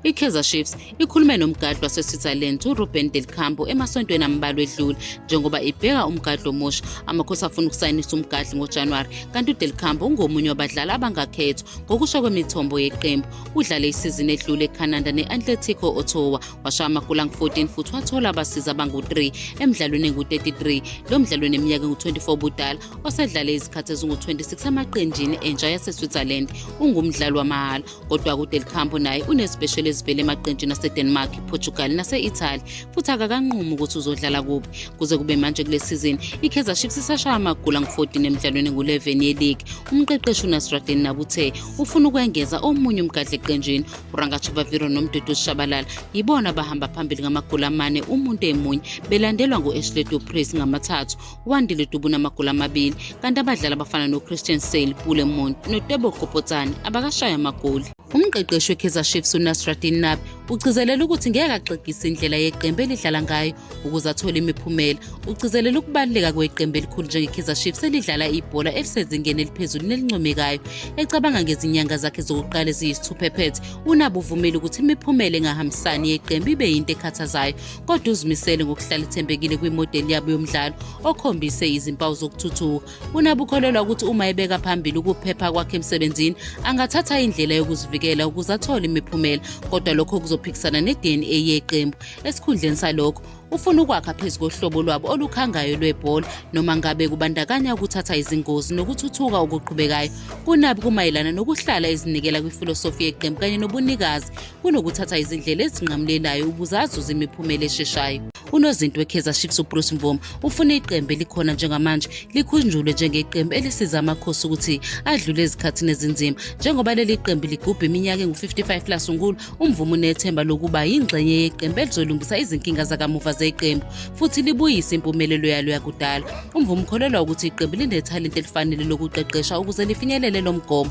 I-Kaizer Chiefs ikhulume nomgadli wase-Switzerland uRuben Del Campo emasontweni ambalwa edlule njengoba ibheka umgadli omusha. Amakhosi afuna ukusayinisa umgadli ngoJanuwari kanti uDel Campo ungomunye wabadlali abangakhethwa. Ngokusho kwemithombo yeqembu, udlale isizini edlule eCanada ne-Atletico Ottawa washaya amagoli angu-14 futhi wathola abasizi abangu-3 emdlalweni engu-33. Lo mdlali oneminyaka engu-24 ubudala osedlale izikhathi ezingu-26 amaqenjini entsha yase-Switzerland ungumdlali wamahhala kodwa kude lihambo naye unezibheshelo ezivele emaqenjini asedenmark portugal nase-italy futhi akakanqumi ukuthi uzodlala kuphi kuze kube manje kule sizini ikaizer chiefs isashaya amagula ngu-14 emdlalweni engu-11 yeligi umqeqeshi unasradin nabuthe ufuna ukwengeza omunye umgadla eqenjini urangatshavaviro nomdudu usishabalala yibona abahamba phambili ngamagula amane umuntu emunye belandelwa ngu-ashley duprace ngamathathu uwandile dubu namagoli amabili kanti abadlali abafana nochristian sale pule mont notebo gopotsane abakashaye amagoli umqeqeshi wekaizer chiefs unasradin nabi ugcizelela ukuthi ngeke axegise indlela yeqembu elidlala ngayo ukuze athole imiphumela ugcizelela ukubaluleka kweqembu elikhulu njengekaizer chiefs elidlala ibhola elisezingeni eliphezulu nelincomekayo ecabanga ngezinyanga zakhe zokuqala eziyisithuphephethe unabi uvumile ukuthi imiphumela engahambisani yeqembu ibe yinto ekhathazayo kodwa uzimisele ngokuhlala ethembekile kwimodeli yabo yomdlalo okhombise izimpawu zokuthuthuka unabe ukholelwa ukuthi uma ebeka phambili ukuphepha kwakhe emsebenzini angathatha indlela yokuzivikela ukuze athole imiphumela kodwa lokho kuzophikisana ne-dna yeqembu esikhundleni salokho ufuna ukwakha phezu kohlobo lwabo olukhangayo lwebhola noma ngabe kubandakanya ukuthatha izingozi nokuthuthuka okuqhubekayo kunabi kumayelana nokuhlala ezinikela kwifilosofi yeqembu kanye nobunikazi kunokuthatha izindlela ezinqamulelayo ukuze azuze imiphumela esheshayo unozinti wekaizer chiefs ubruce mvoma ufune iqembu elikhona njengamanje likhunjulwe njengeqembu elisiza amakhosi ukuthi adlule ezikhathini ezinzima njengoba leli qembu ligubha iminyaka engu-55 lasungulwa umvuma unethemba lokuba yingxenye yeqembu elizolungisa izinkinga zakamuva zeqembu futhi libuyise impumelelo yalo yakudala umvuma ukholelwa ukuthi iqembu linethalente elifanele lokuqeqesha ukuze lifinyelele lo mgomo